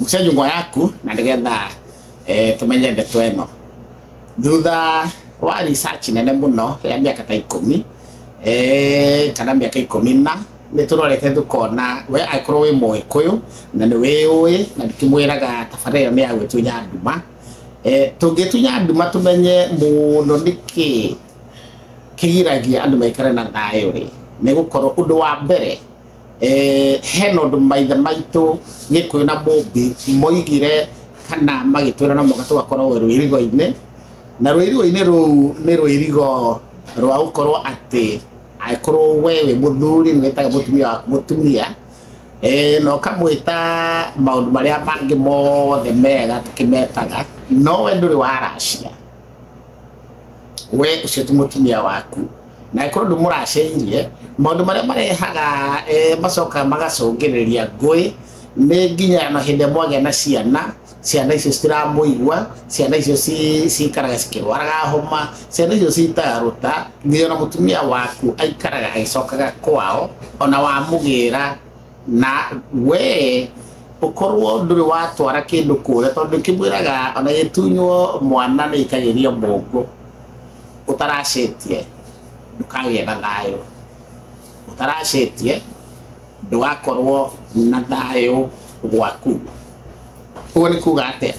mucia nyũmba yaku na nĩgetha eh, tũmenye ndeto ĩno thutha wa research nene mũno ya mĩaka ta ikũmi eh, kana mĩaka ikũmi na nĩ tũrorete tũkona we angĩkorwo wĩ mũgĩkũyũ na nĩ wĩũĩ na ndikĩmwĩraga tabarĩra ĩyo nĩ ya gwĩtunya nduma eh, tũngĩtunya nduma tũmenye mũno nĩkĩ kĩgiragia andũ maikare na thayũ rĩ nĩ gũkorwo ũndũ wa mbere Eh, hena ũndũ maithe maitũ gĩkũyũ na mũmbĩ moigire kana magĩtwĩra na moka tũgakorwo rwĩrigo-inĩ na rwĩrigo-inĩ rũu nĩ rwĩrigo rwa gũkorwo atĩ angĩkorwo we wĩ mũthuri nĩ wĩtaga mũtumia waku mũtumia eh, na ũkamwĩta maũndũ marĩa mangĩ mothe mega tũkĩmetaga no we ndũrĩ waracia we ucio ti mutumia waku na ikorwo ndu muraceirie maundu maria marehaga eh, macoka magacungiriria ngui ni nginya na hindi mwagĩa na ciana ciana icio citiramuigua ciana icio ci- cikaraga cikirwaraga homa ciana icio citaga ruta nginya na mutumia waku aikaraga agicokaga kwao ona wamugira na we ukorwo nduri watwara kindu kuria tondu kimwiraga ona gitunywo mwana ni ikagiria mungu utaracetie ndukagĩa na thayũ utaracetie ndũgakorwo na thayũ gwaku ũguo nĩ kuga atĩa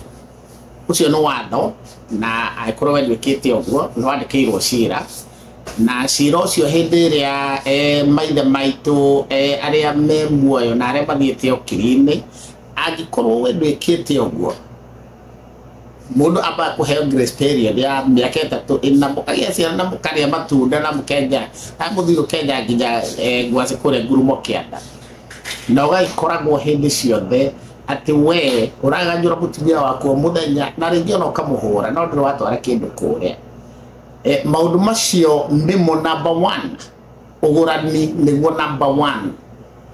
ũcio nĩ watho na angĩkorwo wenduĩkĩte ũguo nĩ wandĩkĩirwo cira na cira ũcio hĩndĩ ĩrĩa eh, maithe maitũ eh, arĩa me muoyo na arĩa mathiĩte ũkiri-inĩ angĩkorwo we ndwĩkĩte ũguo mundu amba kuheo grace period ya miaka itatu ina mukagia ciana na mukaria matunda na mukenja na muthii ukenja nginya eh, ngwacĩ kũrĩa ngurumo kĩanda na ũgagĩkoragwo hĩndĩ ciothe atĩ we ũraganyũra mũtumia waku o mũthenya na rĩngĩ ona ũkamũhũra no ndũrĩ watwara kĩndũ kũrĩa eh, maundu macio nimo number one ugurani niguo number one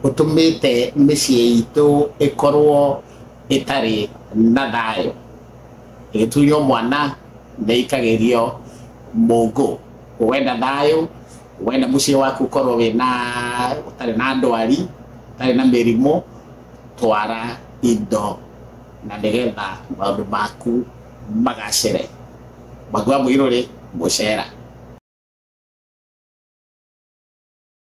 utumite micie itu ikorwo itari na thayo igitunywo mwana ndeikagirio mungu wenda thayo wenda mucie waku ukorwo wina utari na ndwari utari na mirimu twara indo na nigetha maundu maku magacire Magua mũirũrĩ gũcera.